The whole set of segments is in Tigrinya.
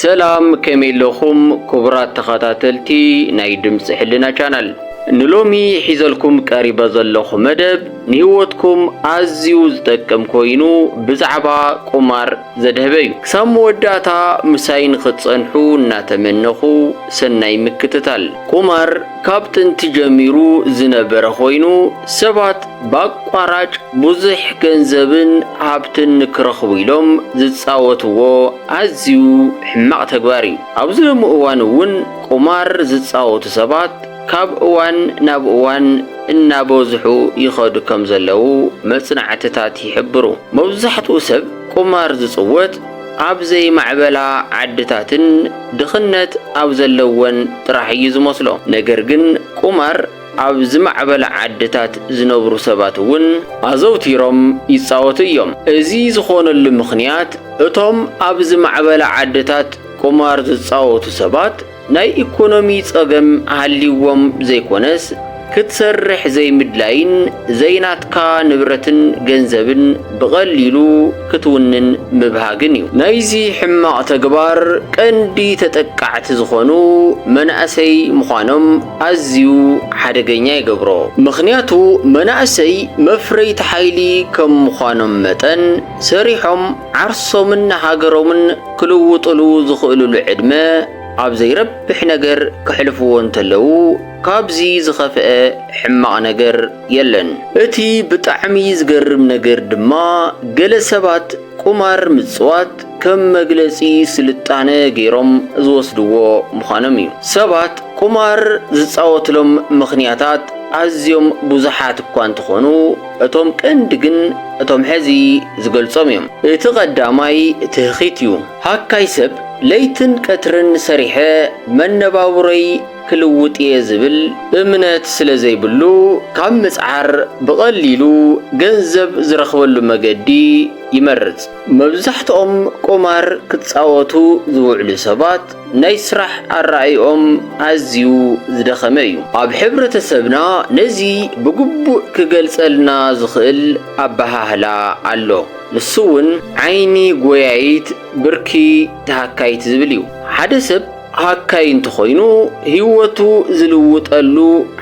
ሰላም ከመይ ኣለኹም ኩቡራት ተኸታተልቲ ናይ ድምጺ ሕልና ቻናል ንሎሚ ሒዘልኩም ቀሪበ ዘለኹ መደብ ንህይወትኩም ኣዝዩ ዝጠቅም ኮይኑ ብዛዕባ ቁማር ዘድሀበ እዩ ክሳብ መወዳእታ ምሳይ ንኽትጸንሑ እናተመነኹ ሰናይ ምክትታል ቁማር ካብ ጥንቲ ጀሚሩ ዝነበረ ኮይኑ ሰባት ብኣቋራጭ ብዙሕ ገንዘብን ሃብትን ንክረኽቡ ኢሎም ዝጻወትዎ ኣዝዩ ሕማቕ ተግባር እዩ። ኣብዚ ሎሚ እዋን እውን ቁማር ዝጻወቱ ሰባት ካብ እዋን ናብ እዋን እናበዝሑ ይኸዱ ከም ዘለዉ መጽናዕትታት ይሕብሩ። መብዛሕትኡ ሰብ ቁማር ዝጽወት ኣብ ዘይማዕበላ ዓድታትን ድኽነት ኣብ ዘለወን ጥራሕ እዩ ዝመስሎ። ነገር ግን ቁማር ኣብ ዝማዕበላ ዓድታት ዝነብሩ ሰባት እውን ኣዘውቲሮም ይጻወቱ እዮም። እዚ ዝኾነሉ ምኽንያት እቶም ኣብ ዝማዕበላ ዓድታት ቁማር ዝጻወቱ ሰባት ናይ ኢኮኖሚ ጸገም ሃልይዎም ዘይኮነስ ክትሰርሕ ዘይምድላይን ዘይናትካ ንብረትን ገንዘብን ብቐሊሉ ክትውንን ምብሃግን እዩ። ናይዚ ሕማቕ ተግባር ቀንዲ ተጠቃዕቲ ዝኾኑ መናእሰይ ምዃኖም ኣዝዩ ሓደገኛ ይገብሮ። ምኽንያቱ መናእሰይ መፍረይቲ ሓይሊ ከም ምዃኖም መጠን ሰሪሖም ዓርሶምን ሃገሮምን ክልውጥሉ ዝኽእልሉ ዕድመ ኣብ ዘይረብሕ ነገር ከሕልፍዎ እንተለዉ ካብዚ ዝኸፍአ ሕማቕ ነገር የለን። እቲ ብጣዕሚ ዝገርም ነገር ድማ ገለ ሰባት ቁማር ምጽዋት ከም መግለጺ ስልጣነ ገይሮም ዝወስድዎ ምዃኖም እዩ። ሰባት ቁማር ዝጻወትሎም ምኽንያታት ኣዝዮም ብዙሓት እኳ እንተኾኑ እቶም ቀንዲ ግን እቶም ሕዚ ዝገልጾም እዮም። እቲ ቀዳማይ ትህኺት እዩ። ሃካይ ሰብ ለይትን ቀትርን ሰሪሐ መነባብሮይ ክልውጥ እየ ዝብል እምነት ስለ ዘይብሉ፣ ካብ ምጽዓር ብቐሊሉ ገንዘብ ዝረኽበሉ መገዲ ይመርጽ። መብዛሕትኦም ቁማር ክጻወቱ ዝውዕሉ ሰባት ናይ ስራሕ ኣረኣእይኦም ኣዝዩ ዝደኸመ እዩ። ኣብ ሕብረተሰብና ነዚ ብግቡእ ክገልጸልና ዝኽእል ኣበሃህላ ኣሎ። ንሱ'ውን ዓይኒ ጎያዪት ብርኪ ተሃካዪት ዝብል እዩ። ሓደ ሰብ ሃካይ እንተኾይኑ ህይወቱ ዝልውጠሉ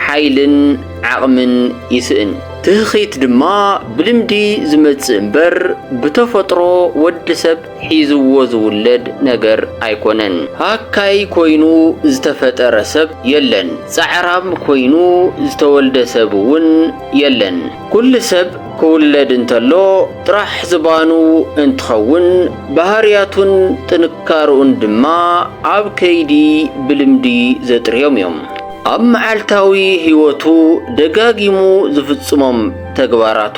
ሓይልን ዓቕምን ይስእን። ትህኺት ድማ ብልምዲ ዝመጽእ እምበር ብተፈጥሮ ወዲ ሰብ ሒዝዎ ዝውለድ ነገር ኣይኮነን። ሃካይ ኮይኑ ዝተፈጠረ ሰብ የለን፣ ጻዕራም ኮይኑ ዝተወልደ ሰብ'ውን የለን። ኩሉ ሰብ ክውለድ እንተሎ ጥራሕ ዝባኑ እንትኸውን ባህርያቱን ጥንካርኡን ድማ ኣብ ከይዲ ብልምዲ ዘጥርዮም እዮም። ኣብ መዓልታዊ ህይወቱ ደጋጊሙ ዝፍፅሞም ተግባራቱ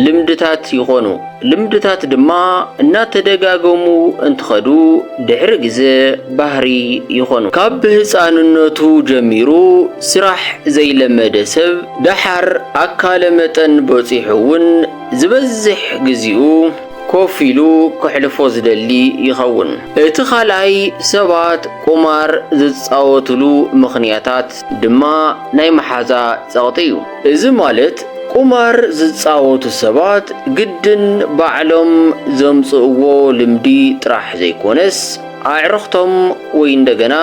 ልምድታት ይኾኑ። ልምድታት ድማ እናተደጋገሙ እንትኸዱ ድሕሪ ግዘ ባህሪ ይኾኑ። ካብ ህፃንነቱ ጀሚሩ ስራሕ ዘይለመደ ሰብ ደሓር ኣካለ መጠን በፂሑ እውን ዝበዝሕ ግዚኡ ኮፍ ኢሉ ከሕልፎ ዝደሊ ይኸውን። እቲ ካልኣይ ሰባት ቁማር ዝፃወትሉ ምኽንያታት ድማ ናይ መሓዛ ፀቕጢ እዩ። እዚ ማለት ቁማር ዝጻወቱ ሰባት ግድን ባዕሎም ዘምጽእዎ ልምዲ ጥራሕ ዘይኮነስ ኣዕርኽቶም ወይ እንደገና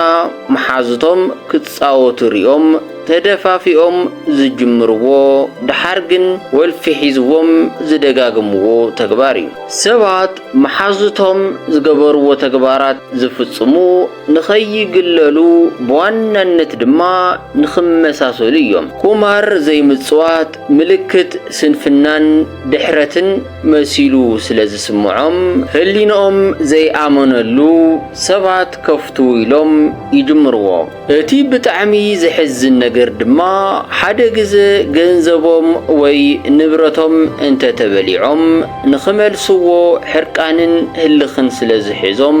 መሓዙቶም ክጻወቱ ሪኦም ተደፋፊኦም ዝጅምርዎ ደሓር ግን ወልፊ ሒዝዎም ዝደጋግምዎ ተግባር እዩ። ሰባት መሓዙቶም ዝገበርዎ ተግባራት ዝፍጽሙ ንኸይግለሉ ብዋናነት ድማ ንኽመሳሰሉ እዮም። ቁማር ዘይምጽዋት ምልክት ስንፍናን ድሕረትን መሲሉ ስለ ዝስምዖም፣ ህሊንኦም ዘይኣመነሉ ሰባት ከፍትዉ ኢሎም ይጅምርዎ። እቲ ብጣዕሚ ዘሕዝን ነገር ድማ ሓደ ግዘ ገንዘቦም ወይ ንብረቶም እንተተበሊዖም ንኽመልስዎ ሕርቃንን ህልኽን ስለ ዝሕዞም፣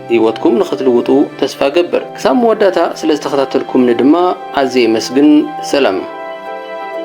ህይወትኩም ንኽትልውጡ ተስፋ እገብር። ክሳብ መወዳእታ ስለ ዝተኸታተልኩምኒ ድማ ኣዝየ የመስግን። ሰላም።